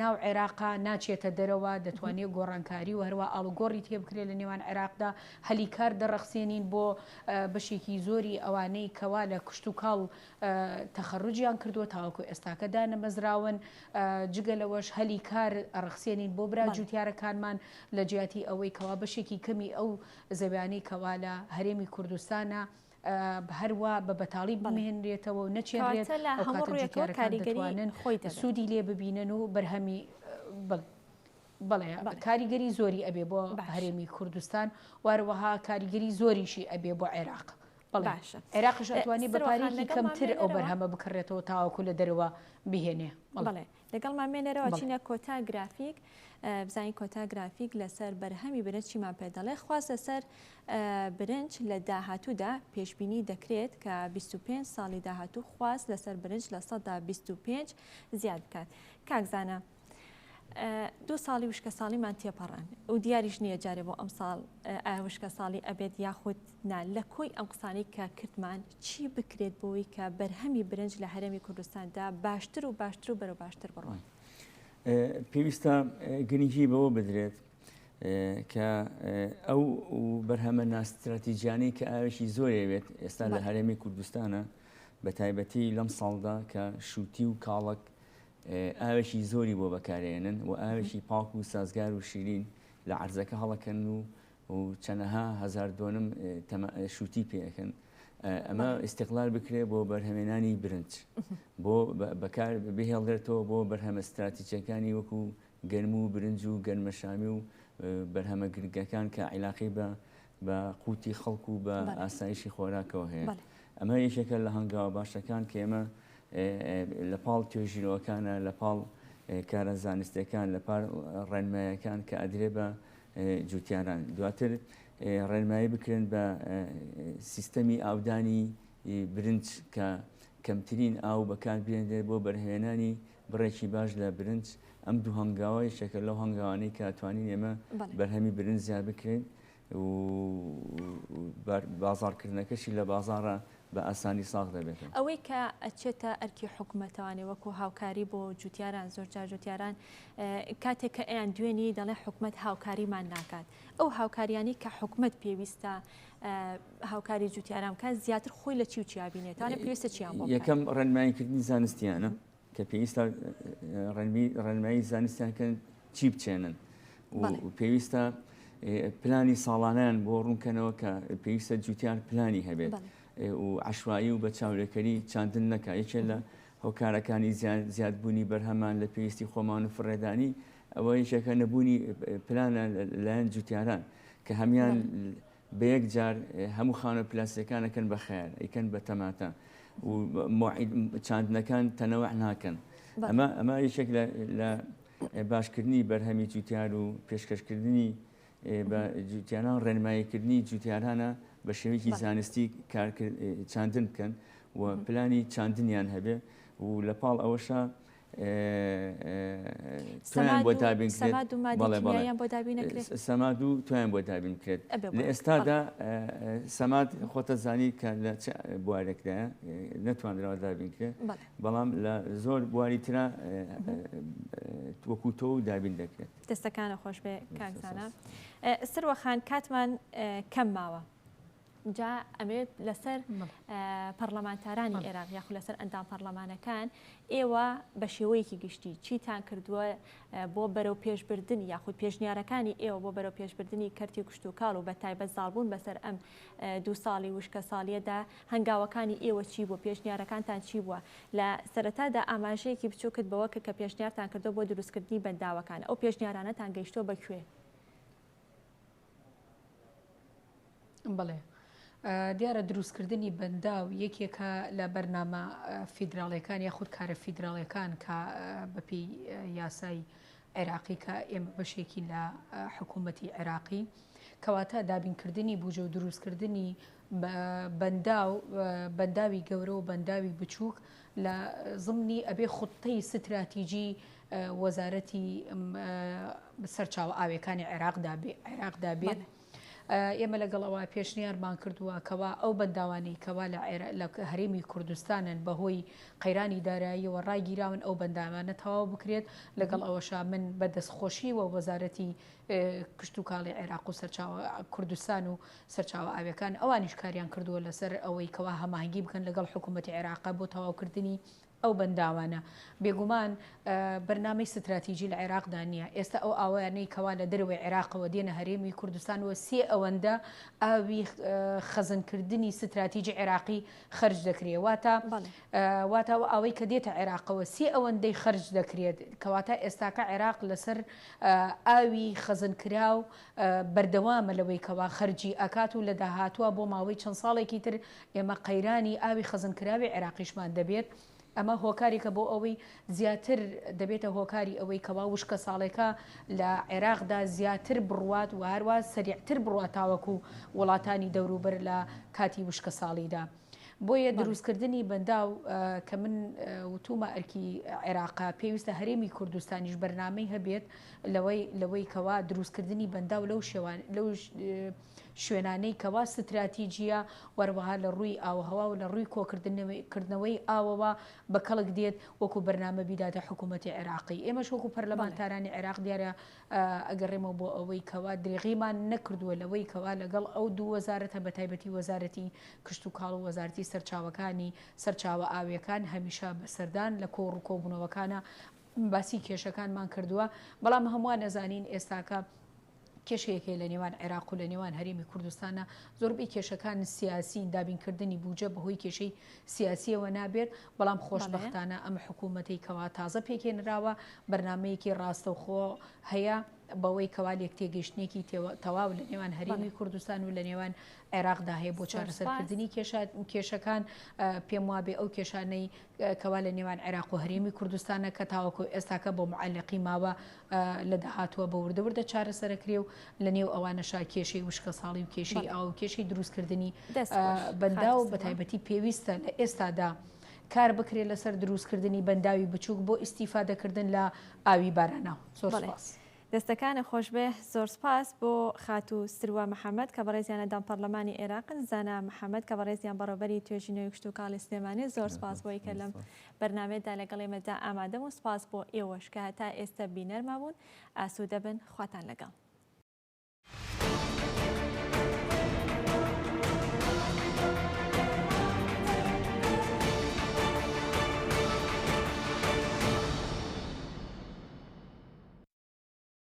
ناو عێراقا ناچێتە دەرەوە مهم. دەتوانێ گۆڕانکاری و هەروا ئاڵوگۆڕی تێ بکرێ لە نێوان عێراقدا هەلی کار دەڕەخسێنین بۆ بەشێکی زۆری ئەوانەی کەوا لە کشتوکاڵ تەخەروجیان کردووە تاوەکو ئێستاکە دانەمەزراون جگە لەوەش هەلی کار ئەڕەخسێنین بۆ برا بەڵێ. جوتیارەکانمان لە جیاتی ئەوەی کەوا بەشێکی کەمی ئەو زەویانی کەوا لە هەرێمی کوردستانە هەروا بە بەتاڵی بمێنرێتەوە و نەچێنرێت ئەو کاتە جوتیارەکان دەتوانن سوودی لێ ببینن و بەرهەمی بەڵێ کاریگەری زۆری ئەبێ بۆ هەرێمی کوردستان وارەوەها کاریگەری زۆریشی ئەبێ بۆ عێراق بەڵاشە عێراقش ئەتوانی بەپارێکی کەمتر ئەو بەرهەمە بکڕێتەوە تاواکو لە دەرەوە بهێنێ بەڵێ لەگەڵمان مێنەرەوە چینە کۆتا گرافیک بزانین کۆتا گرافیک لەسەر بەرهەمی برنج چیمان پێ دەڵێ خواست لەسەر برنج لە داهاتوودا پێشببینی دەکرێت کە 25 ساڵی داهاتوو خواست لەسەر برنج لە سەدا 25 زیاد بکات کاکزانە دوو ساڵی وشکە ساڵیمان تێپەڕان و دیاریش نییە جارێ بۆ ئەم ساڵ وشکە ساڵی ئەبێت یاخود نا لە کۆی ئەم قسانی کە کردمان چی بکرێت بۆوەی کە بەرهەمی برنج لە هەرێمی کوردستاندا باشتر و باشتر و بەرەو باشتر بڕۆن؟ پێویستە گرنگی بەوە بدرێت کە ئەو بەرهەمە ناستراتیجیانەی کە ئاوێکی زۆرەوێت ئێستا لە هەرێمی کوردستانە بە تایبەتی لەم ساڵدا کە شووتی و کاڵک ئاوێکی زۆری بۆ بەکارێنن و ئاوێکی پاک و سازگار و شیرین لە عرزەکە هەڵەکەن و و چەنەها هەزار دۆنم شووتی پێ ئەکەن. ئەمە ئیستقلال بکرێ بۆ بەرهەمێنانی برنج بۆ بەکار بهێڵێتەوە بۆ بەرهەمە ستراتیچەکانی وەکو گەرم و برنج و گەرمەشامی و بەرهەمە گرگەکان کە عیلاقی بە بە قوتی خەڵک و بە ئاسایشی خۆراکەوە هەیە ئەمە یەکێکە لە هەنگاوە باشەکان کە ئێمە لە پاڵ توێژیرەوەکانە لە پاڵ کارە زانستەکان لە پار ڕێنمایەکان کە ئەدرێ بە جوتیاران دواتر ڕێنمایی بکرێن بە سیستەمی ئاودانی برنج کە کەمترین ئاو بەکاربێنێت بۆ بەرهەمێنانی بڕێکی باش لە برنج ئەم دوو هەنگاوە یەکێکە لەو هەنگاوانەی کە توانین ئێمە بەرهەمی برنج زیاد بکرێن بازاڕکردنەکەشی لە بازاڕە بە ئاسانی ساغ دەبێتەوە. ئەوەی کە ئەچێتە ئەرکی حکومەتەوانێ وەکو هاوکاری بۆ جوتیاران زۆر جار جوتیاران کاتێک کە ئەیان دوێنی دەڵێ حکومەت هاوکاریمان ناکات ئەو هاوکاریانی کە حکومت پێویستە هاوکاری جوتیاران کە زیاتر خۆی لە چی و چیابینێتوانێت پێویستە چیان یەکەم ڕێنماییکردنی زانستیانە کە پێویستە ڕێنمایی زانستیان کەن چی بچێنن پێویستە پلانی ساڵانیان بۆ ڕوونکەنەوە کە پێویستە جوتیان پلانی هەبێت و عشوایی و بە چاولێکەری چاندن نەکە یەکێ لە هۆکارەکانی زیادبوونی بەرهەمان لە پێویستی خۆمان و فڕێدانی ئەوە یەکێکە نەبوونی پلانە لایەن جوتیاران کە هەمان بەیەک جار هەموو خانوە پلاستیەکان ئەکەن بە خەیار ئەیکەن بە تەماتە و چاندنەکان تەنەوع ناکەن ئەمە ئەمە یەکێک لە باشکردنی بەرهەمی جوتیار و پێشکەشکردنی بە جوتیانان ڕێنماییکردنی جوتیارانە بە شێوەیەکی زانستی چاندن بکەن و پلانی چاندنیان هەبێ و لە پاڵ ئەوەشە تویان بۆ دابین سەماد و تویان بۆ دابین کرێت لە ئێستادا سەماد خۆتە زانی کە لە بوارێکدا نەتواندراوە دابین کرێت بەڵام لە زۆر بواری تررا وەکوتۆ و دابین دەکرێت دەستەکانە خۆش بێ کاکزانە سروەخان کاتمان کەم ماوە جا ئەمەوێت لەسەر پەرلەمانتارانی عێراق یاخو لەسەر ئەندام پەرلەمانەکان ئێوە بە شێوەیەکی گشتی چیتان کردووە بۆ بەرەو پێشبردن یاخود پێشنیارەکانی ئێوە بۆ بەرەو پێشبردننی کەرتی کوشتتوکاڵ و بە تایبەت زالبوون بەسەر ئەم دو ساڵی وشکە ساڵیەدا هەنگاوەکانی ئێوە چی بۆ پێشنیارەکانتان چی بووە لە سەرەتادا ئاماژەیەکی بچووکت بەوە کە کە پێشنیارتان کردو بۆ دروستکردنی بەنداوەکان ئەو پێشنیارانەتان گەیشتۆ بەکوێ بەڵێ دیارە دروستکردنی بەنداو یەکێکە لە بەرنامە فیدراڵەکان یاخود کارە فیدراڵەکان کە بەپی یاسای عێراقی کە ئێمە بەشێکی لە حکوومەتی عێراقی کەواتە دابینکردنی بوجە و دروستکردنی بەنداو، بەنداوی گەورە و بەنداوی بچووک لە زمنی ئەبێ خوتەی ستراتیجی وەزارەتی سەرچاوە ئاوێکانی عێراقدا بێ عێراقدا بێت. ئێمە لەگەڵ ئەوە پێشنیارمان کردووە کەوا ئەو بەنداوانی کەوا لە هەرێمی کوردستانن بەهۆی قەیرانی داراییەوە ڕاگیراون ئەو بەندامانە تەواو بکرێت لەگەڵ ئەوەشا من بە دەستخۆشی وە وەزارەتی کشتتوکاڵی عێراق و سەرچاوە کوردستان و سەرچاوە ئاویەکان ئەوانیش کاریان کردووە لەسەر ئەوەی کەوا هەماهەنگی بکەن لەگەڵ حکوومەتی عێراق بۆ تەواوکردنی ئەو بەنداوانە. بێگومان بەرنامەی ستراتیجی لە عێراقدا نییە. ئێستا ئەو ئاوەیانەی کەوا لە دەرەوەی عێراقەوە دێنە هەرێمی کوردستان وە سێ ئەوەندە ئاوی خەزنکردنی ستراتیجی عێراقی خەرج دەکرێت واتە واتە و ئەوەی کە دێتە عێراقەوە سێ ئەوەندەی خەرج دەکرێت کەواتە ئێستاکە عێراق لەسەر ئاوی خەزنکراو بەردەوامە لەوەی کەوا خەرجی ئەکات و لە داهاتووا بۆ ماوەی چەند ساڵێکی تر ئێمە قەیرانی ئاوی خەزنکراوی عێراقیشمان دەبێت، ئەمە هۆکارێکە بۆ ئەوەی زیاتر دەبێتە هۆکاری ئەوەی کەوا وشکەساڵێکە لە عێراقدا زیاتر بڕوات و هەروا سەریعتر بڕوات تاوەکو وڵاتانی دەوروبەر لە کاتی وشکەساڵیدا. بۆیە دروستکردنی بەنداو کە من وتومە ئەرکی عێراقا پێویستە هەرێمی کوردستانیش بەرنمەی هەبێت لەوەی لەوەی کەوا دروستکردنی بەنداو لەو شێوان لەو شوێنانەی کەوا ستراتیجیە وەروەها لە ڕووی ئاوهوا و لە ڕووی کۆکردنەوەی ئاوەوە بە کەڵک دێت وەکو بەرنمە بیداتە حکوومەتتی عێراقی ئێمەش وەکو پەرلەمانتارانی عێراق دیارە ئەگەڕێمەوە بۆ ئەوەی کەوا درێغیمان نەکردووە لەوەی کەوا لەگەڵ ئەو دوو وەزارەتە بە تایبەتی وەزارەتی کشتوکاڵ و وەزارەتی سەرچاوەکانی سەرچاوە ئاوییەکان هەمیشە بە سەردان لە کۆڕ و کۆبوونەوەکانا باسی کێشەکانمان کردووە بەڵام هەمووان ئەزانین ئێستاکە کێشەیەک هەیە لە نێوان عێراق و لە نێوان هەرێمی کوردستانە زۆربەی کێشەکان سیاسین دابینکردنی بوجە بەهۆی کێشەی سیاسیەوە نابێت بەڵام خۆشبەختانە ئەم حکوومەتەی کەوا تازە پێکهێنراوە بەرنامەیەکی ڕاستەوخۆ هەیە بەوەی کەوا لێکتێگەیشتنێکی تەواو لە نێوان هەرێمی کوردستان و لە نێوان عێراقدا هەیە بۆ چارەسەرکردنی کێشەکان پێم وابێ ئەو کێشانەی کەوا لە نێوان عێراق و هەرێمی کوردستانە کە تاوەکو ئێستاکە بۆ معلقی ماوە لە داهاتووە بە وردە وردە چارەسەرەکرێ و لە نێو ئەوانەشا کێشەی وشکە ساڵی و کێشەی ئاو کێشەی دروستکردنی بەندا و بەتایبەتی پێویستە لە ئێستادا کار بکرێت لەسەر دروستکردنی بەنداوی بچووک بۆ ئیسیفادەکردن لە ئاوی باراناو زۆر باس. دەستەکانت خۆشبێ زۆر سپاس بۆ خاتو سروە محمد کە بەڕێزیانە دام پەڕلەمانی عێراقن زانا محمد کە بەڕێزیان بەڕێوبەری توێژینەوەی کشتوکاڵی سلێمانین زۆر سپاس بۆی کە لەم بەرنامەیەدا لەگەڵ ئێمەدا ئامادەم و سپاس بۆ ئێوەش کە هەتا ئێستە بینەرمان بوون ئاسوودە بن خواتان لەگەڵ.